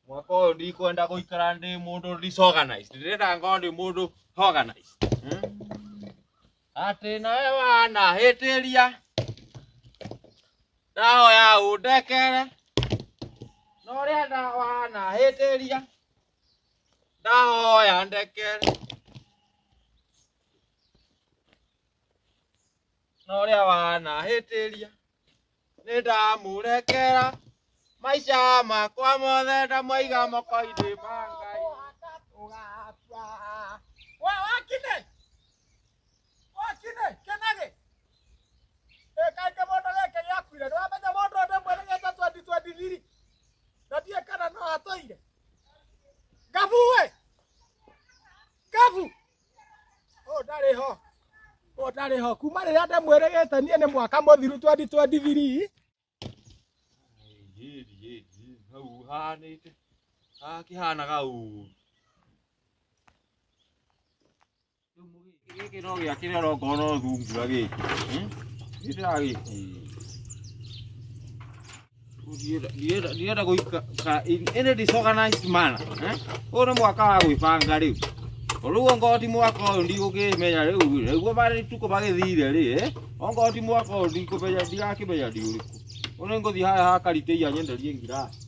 mwaka ũyũ ndikwenda gũikara ndĩ mũndũ disorganized ndĩrenda ngorwo ndĩ mũndũ organized Hmm? atĩ nawe wanahĩtĩria ndahoya ũndekere na ũrĩa nda wanahĩtĩria ndahoya ndekere na ũrĩa wanahĩtĩria nĩ ndamũrekera maica makwa mothe ndamwaiga moko-inĩ ma Ngai ũgakua we wakine wakine kenage ĩkaingĩ mũndũ gĩkĩ gĩakuire nĩwamenya mũndũ ũndũ ũmwe nĩgĩte twendi twendi thiri na ndiĩ kana no atũire ngabu we ngabu ũtarĩ ho kuma rĩrĩa ndamwĩrĩgĩte niĩ nĩ mwaka mũthiru 2023 hau hanĩte hakĩhanaga ũru gĩkĩ no gĩakĩrĩa ũrongorwo no thungura gĩkĩ gĩtiragĩkĩ ndienda guikara in any disorganized manner eh? uyu ni mwaka wa gwibanga riu riu ongoo ti mwaka uyu ndigukimenya riu niguo bari tuko bagithire ri eh? ongoo ti mwaka uyu ndigukimenya ndigakimenya ndi uriku uyu ni nguthi haya hakariteia nyenderie ngirasi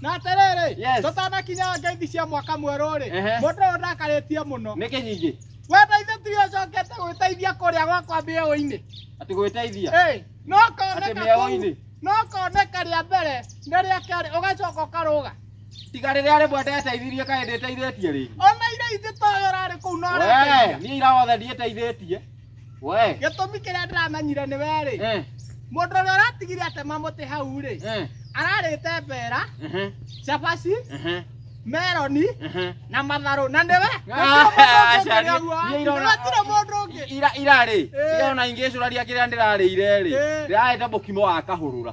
na atĩrĩrĩ Yes. tũtanakinya ngeithi cia mwaka mwerũ-rĩ Ehe. mũndũ ũyũ ndakarĩtie mũno nä kä nyingä wenda ithe tiwe ũcokete gwĩteithia kũrĩa gwakwa mĩeũ-inĩ atä gwä teithia Ĩĩ, no Atĩ koneka kũu mĩeũ-inĩ? no koneka rĩa mbere nĩ rĩa kerĩ ũgacoka ũkarũga tiga rä rä a rä mwe ndeteithirie kaä ndä teithä tie rä ona iria ithĩ toyo ũrarĩ kũu no ũrateithia. niä irawothe ndiä teithä tie we gĩtũmi kĩrĩa ndĩramenyire nĩ werĩ eh mũndũ ũrĩa ũratigire atema mũtĩ hau rĩ eh ararĩte mbera ehe cabaci ehe meroni ehe na matharũ na nĩwe Aca, niĩ- niĩ irona- gũtirĩ mũndũ ũngĩ ira irarĩ Eh. irona ingĩcũraria kĩrĩa ndĩrarĩire rĩ Eh. ndĩrarĩte mũkimo wa kahũrũra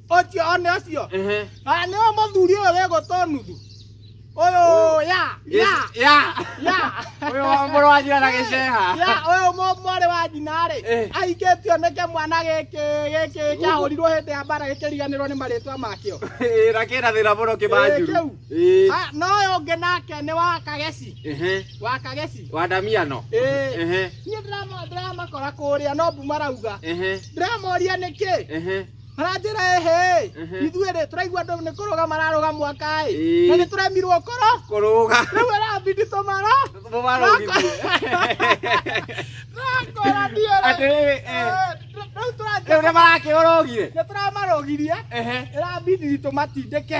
ũcio one ũcio Ehe. na nĩ wa mũthuri ũyũ wĩ gũtũ nuthu ũyũ ya ya Ya. ya Ũyũ wa mũrũ wa njĩra na gĩceha. ya ũyũ mũ- mwarĩ wa nyina rĩ Eh. ahikĩtio nĩke mwana gĩkĩ gĩkĩ kĩahũrirwo hĩndĩ ya mbara gĩkĩriganĩrwo nĩ marĩtwa makĩo Ĩĩ, na kĩna thĩna mũno kĩbanjuru. Ĩĩ, kĩu. Ĩĩ. Ha, no ũyũ ũngĩ nake nĩ wa kageci Ehe. wa kageci Wa ndamiano. Ĩĩ. Ehe. niĩ ndĩrama- ndĩramakora kũrĩa no mbu marauga Ehe. ndĩramoria nĩkĩ Ehe. maranjĩra ehe Ehe. ithuĩ rĩ tũraigua andũ nĩ kũrũga mararũga mwaka ĩ Ĩĩ. na nĩ tũremirwo kũrũ kũrũga rĩu arabindi tũmara mũmarũgithie nakora ndiĩ atĩrĩrĩ eh, rĩu rĩu nĩ tũranjĩra marakĩũrũgire nĩ tũramarũgirie ehe ĩrabindi tũmatindĩke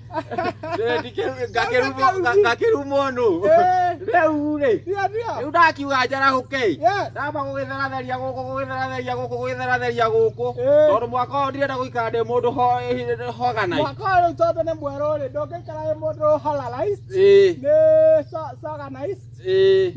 ngakĩru mũnũ rĩu rĩ rĩu ndakiuga njarahũke ndamba gũgĩtheratheria gũkũ gũgĩtheratheria gũkũ gũgĩtheratheria gũkũ tondũ mwaka ũyũ ndirenda gũikara ndĩ mũndũ hoganai mwaka ũyũ rĩu tondũ nĩ mwerũ rĩ ndũngĩikara wĩ mũndũ halarais nĩ soganais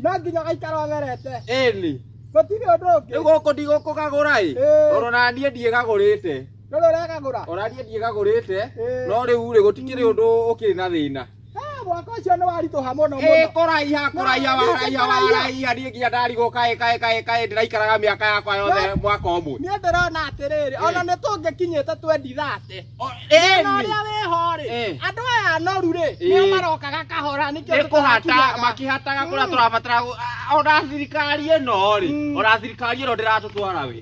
no nginya ũgaikara ũgerete ĩni gũtirĩ ũndũ ũngĩ rĩu gũkũ ndigũkũgagũra ĩ tondũ na niĩ ndiĩgagũrĩte No rä ũrakagũra Ũrariĩ ndiĩkagũrĩte Ĩĩ. no rĩu rĩ gũtikĩrĩ ũndũ ũkĩrĩ na thĩna. Ah, mwaka ũcio nĩ waritũha mũno Ĩĩ mũno kũraiha kũraiha No, waraiha kũraiha. waraiha niĩ nginya ndarigwo kaĩ kaĩ kaĩ kaĩ ndĩraikaraga mĩaka yakwa yothe No. mwaka ũmwe. niĩ ndĩrona atĩrĩrĩ Ĩĩ. ona nĩ tũngĩkinyĩte twendi thate O- na ĩni. ũrĩa wĩho rĩ Ĩĩ. andũ aya anoru rĩ nĩo Ĩĩ. marokaga kahora nĩkĩo nĩ kũhata tũtarakinyaga. makĩhataga kũrĩa Mm. tũrabatara gu- a- ona thirikari ĩno rĩ Mm. ona thirikari ĩno ndĩratũtwara wĩ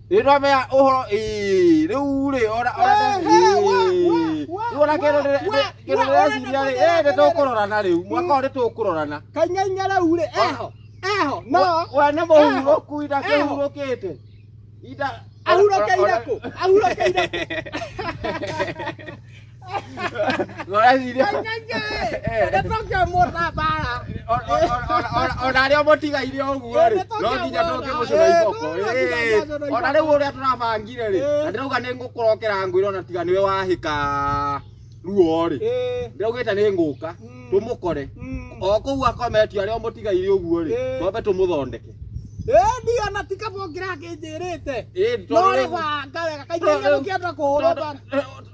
Rĩrwa mea ũhoro ĩĩ rĩu rĩ ora ora rĩu ona kĩndũ kĩndũ ndĩreciria rĩ ĩĩ nĩtũkũrorana rĩu mwaka ũyũ nĩtũkũrorana kanyanya rĩu rĩ eho eho no we nĩ mũhurũku ida kĩhurũkĩte ida ahurũkĩire kũ ahurũkĩire kũ Gora ciria. Ndatokio mũra bara. Ona rĩo mũtigaire ũguo rĩ, no nginya tũke mũcũra iboko. Ĩĩ. Ona rĩu ũrĩa tũrabangire rĩ, na ndĩrauga nĩ ngũkũrokera ngwĩra ona tiga nĩwe wahĩka ruo rĩ. Ĩĩ. Ndĩraugĩte nĩ ngũka Mm. tũmũkore. Mm. O kũu akometio arĩa mũtigaire ũguo rĩ, Ĩĩ. twambe tũmũthondeke. Ĩĩ ndio na ti kaba ũngĩrakĩnjĩrĩte. Ĩĩ, No tondũ rĩ rĩu- banga wega kaingĩ Tondũ- nĩ gũkĩenda kũhũra banga. tondũ-